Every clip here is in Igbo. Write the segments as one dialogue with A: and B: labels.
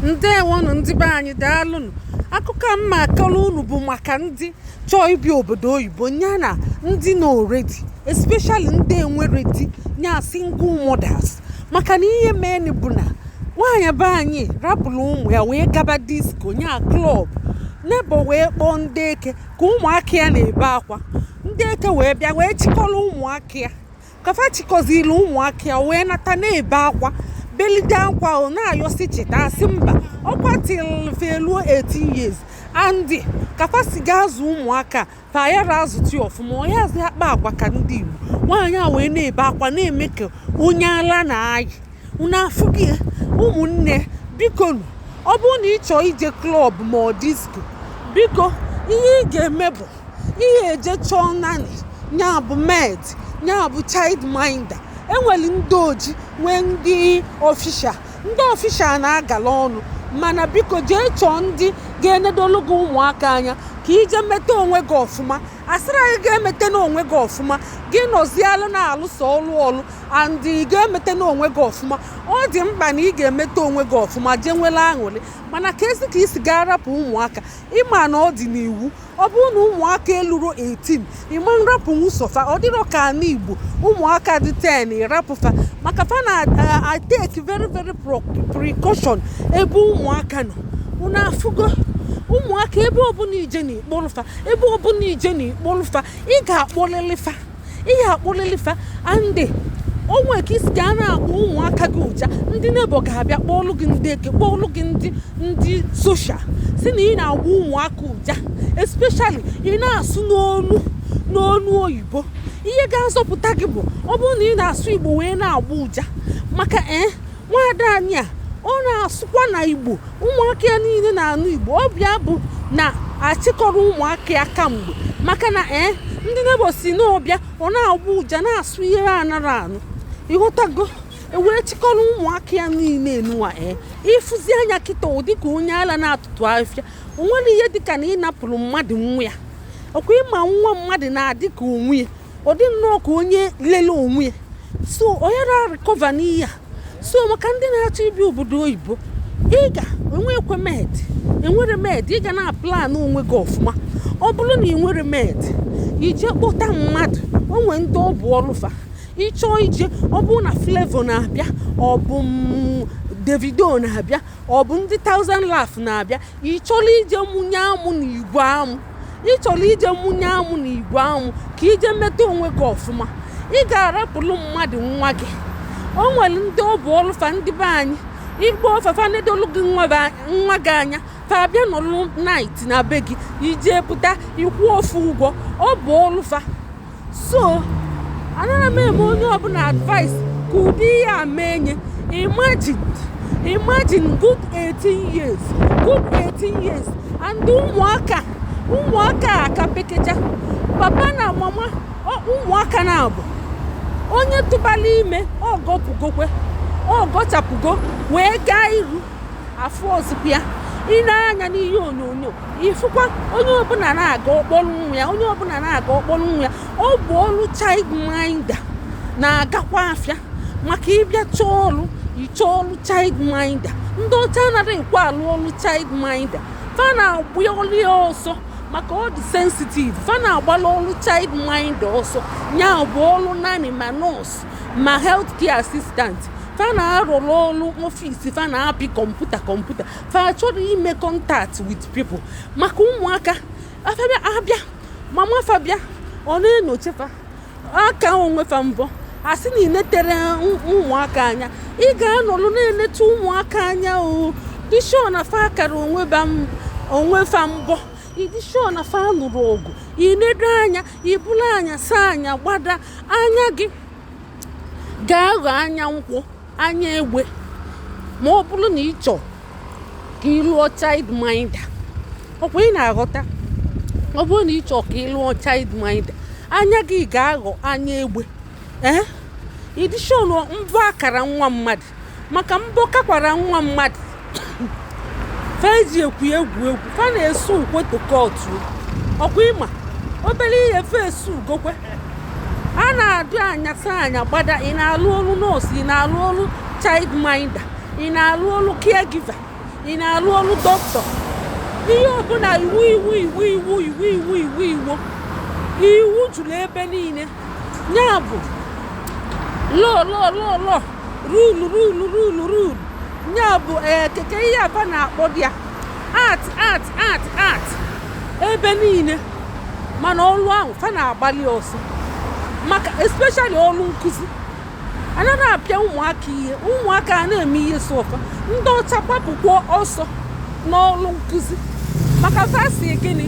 A: ndewonụ ndị be anyị daalụnụ akụkọ a m ma-akọrọ unu bụ maka ndị chọọ ibi obodo oyibo nya na ndị nọ already especially ndị enwerọ di nya single mothers maka na ihe meni bụ na nwaanyị be anyị rapụrụ ụmụ ya wee gaba disco nya club neighbour wee kpọọ ndị eke ka ụmụaka ya na-ebe akwa ndị eke wee bịa wee chịkọrọ ụmụaka ya ka fa chịkọziri ụmụaka ya wee nata na-ebe akwa belide akwa ọ na-ayọ sị chịta a sị mba ọkwa till fa eluo 18 years and ka fa si ga-azụ ụmụaka fa ayara azụti ọfụma ọ yazị akpa agwa ka ndị Igbo nwaanyị a wee na-ebe akwa na-eme ka onye ala na-ayị unu afụgo ya ụmụnne biko ọ bụrụ na ị chọọ ije club ma ọ disco biko ihe ị ga-eme bụ i eje chọọ nanny nya bụ maid nya bụ child minder e nwere ndị oji nwee ndị official ndị official na-agala ọnụ mana biko jee chọọ ndị ga-enedolu gị ụmụaka anya ka i je meta onwe gị ọfụma asịrọ gị emetana onwe gị ọfụma gị nọzialụ na-alụsọ ọlụ ọlụ and gị emetana onwe gị ọfụma ọ dị mkpa na ị ga-emeta onwe gị ọfụma jee nwere aṅụrị mana ka e si ka i si ga-arapụ ụmụaka ị ma na ọ dị n'iwu ọ bụrụ na ụmụaka eluro 18 ị ma nrapụ nwụsọ fa ọ dịrọ ka ana igbo ụmụaka dị 10 ị rapụ fa maka fa na-atake very very precaution ebe ụmụaka nọ unu afụgo ụmụaka ebe ọbụla i je na ị kpọlụ fa ebe ọbụla i je na ị kpọlụ fa ị ga-akpọlịlị fa ị ya-akpọlịlị fa and o nwe ka i si ga na-agba ụmụaka gị ụja ndị neighbour ga-abịa kpọọlụ gị ndị eke kpọọlụ gị ndị ndị social si na ị na-agba ụmụaka ụja especially ị na-asụ n'onu n'onu oyibo ihe ga-azọpụta gị bụ ọ bụrụ na ị na-asụ igbo wee na-agba ụja maka ee eh, nwaada anyị a ọ na-asụkwa na igbo ụmụaka ya niile na-anụ igbo ọ bụ ya bụ na achịkọrọ ụmụaka ya kamgbe maka na ee eh, ndị neighbour sị na ọ bịa ọ na-agba ụja na-asụ ihe anarọ anụ ị ghọtago e wee chịkọrọ ụmụaka ya niile enuwa ee eh, ị fụzia nya kịta ọ dị ka onye ala na-atụtụ afịa o nwere ihe dịka na ị napụrụ mmadụ nwa ya ọkwa ị ma nwa mmadụ na-adị ka onwe ya ọ dị nnọọ ka onye lele onwe ya so onye na-arecover n'ihe a so maka ndị na-achọ ibi obodo oyibo ị ga-enwekwa maid enwerọ maid ị ga na-aplan onwe gị ọfụma ọ bụrụ na i nwerọ maid i je kpọta mmadụ o nwe ndị ọ bụ ọlụ fa ị chọọ ije ọ bụrụ na flavour na-abịa ọ bụ davido na-abịa ọ bụ ndị thousand laugh na-abịa ị chọrọ ije mụnye amụ na igwe amụ ị chọrọ ije mụnye amụ na igwe amụ ka i je meta onwe gị ọfụma ị ga-arapụrụ mmadụ nwa gị o nwere ndị ọ bụ ọlụ fa ndị be anyị igbo ọfafa nedolu gị nwa gị anya fa abịa nọlụ night na be gị i je pụta ị kwụọ fa ụgwọ ọ bụ ọlụ fa so anaghị m eme onye ọbụla advice ka ụdị ihe a mee nya imagine imagine good 18 years good 18 years and ụmụaka ụmụaka a ka pekecha papa na mama ọ- ụmụaka na-abụ onye tụbalụ ime ọ gọpụgokwe ọ gọchapụgo wee gaa iru afụrọzikwa ya i nee anya n'ihe onyonyo ị fụkwa onye ọbụla na-aga ọ kpọrọ nwa ya onye ọbụla na-aga ọ kpọrọ nwa ya ọ bụ ọrụ child minder na-agakwa afịa maka ị bịa chọọ ọrụ ị chọọ ọrụ child minder ndị ọcha anaghị ekwe alụ ọrụ child minder fa na-agba ọrụ ya ọsọ maka ọ dị sensitive fa na-agbalụ ọrụ child minder ọsọ ya bụ ọrụ nanny ma nurse ma health care assistant fa na-arụrụ ọrụ ọfisi fa na-apị kọmputa kọmputa fa achọrọ ime contact with people maka ụmụaka a fa bịa abịa mama fa bịa ọ na-enyocha fa kaa onwe fa mbọ a sị na i neterọ ụmụaka anya ị ga-anọrụ na-eneta ụmụaka anya ịdị sure na fa akara onwe fa mbọ ịdị sure na fa anụrọ ọgụ i nedo anya ị bụlụ anya saa anya gbada anya gị ga-aghọ anya nkwọ anya egbe ma ọ bụrụ na ị chọọ ka ị lụọ child minder ọ kwa ị na-aghọta ọ bụrụ na ị chọọ ka ị lụọ child minder anya gị ga-aghọ anya egbe ee eh? ịdị sure na mbọ akara nwa mmadụ maka mbọ kakwara nwa mmadụ fa eji ekwu egwu egwu fa na-esue kwe to court ọ kwa ị ma obere ihe fa esue gokwe a na-adị anya saa anya gbada ị na-alụ ọrụ nurse ị na-alụ ọrụ child minder ị na-alụ ọrụ caregiver ị na-alụ ọrụ doctor ihe ọbụla iwu iwu iwu iwu iwu iwu iwu iwu iwu juru ebe niile ya bụ law law law law rule rule rule rule ya bụ ee keke ihe a fa na-akpọdị ya act act act act ebe niile mana ọlụ ahụ fa na-agbalụ ya ọsọ maka especially ọlụ nkụzi anarọ apịa ụmụaka ihe ụmụaka a na-eme ihe sọ fa ndị ọcha gbapụkwa ọsọ n'ọrụ nkụzi maka fa sị gịnị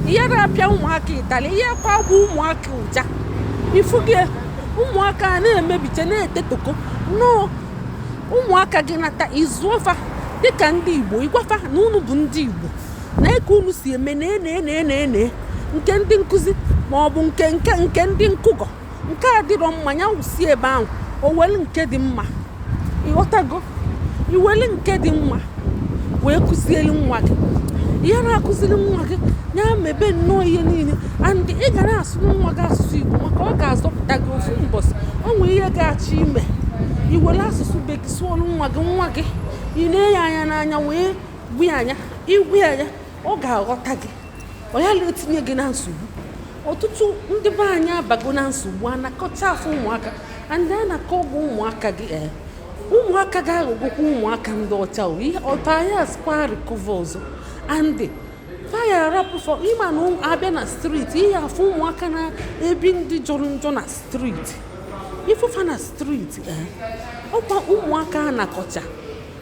A: ị ya na-apịa ụmụaka ịtali ihe kwa gwa ụmụaka ụja ị fụge ụmụaka a na-emebiche na-etetoko nnọọ ụmụaka gị nata ị zụọ fa dịka ndị igbo ị gwa fa na unu bụ ndị igbo nee ka unu si eme na ene ene ene nke ndị nkụzi ma ọ bụ nke nke nke ndị nkụgọ nke a dịrọ mma ya wụsi ebe ahụ o were nke dị mma ịghọtago i were nke dị mma wee kụziere nwa gị ị ya na-akụziri nwa gị ya mebe nnọọ ihe niile and ị ga na-asụrụ nwa gị asụsụ Igbo maka ọ ga-azọpụta gị ofu mbọsị o nwere ihe ị ga-achọ ime i were asụsụ be gị sụọrụ nwa gị nwa gị i nee nya anya n'anya wee gwa nya ị gwa nya ọ ga-aghọta gị ọ ya na-etinye gị na nsogbu ọtụtụ ndị be anyị abago na nsogbu a nakọcha fa ụmụaka and a nakọọ gị ụmụaka gị ee eh, ụmụaka ga-aghọgokwa ụmụaka ndị ọcha ọta ya asikwa recover ọzọ and fa ya-arapụ fa ị mana abịa na street ị ya-afụ ụmụaka na-ebi ndụ jọrọ njọ na street ị fụ fa na street eh, ọkwa ụmụaka a nakọcha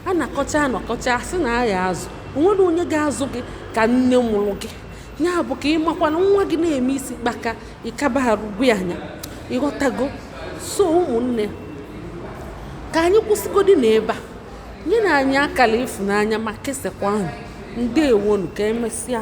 A: a nakọcha a nakọcha sị na a ya-azụ onwere onye ga-azụ gị ka nne mụrụ gị ya bụ ka ị makwa na nwa gị na-eme isi kpaka ịkaba arụgbu anya ịghọtago so ụmụnne ka anyị kwụsịgodi na ebe a nyenụ anyị akara ịfụnanya ma kesakwanụ ndeewonụ ka emesịa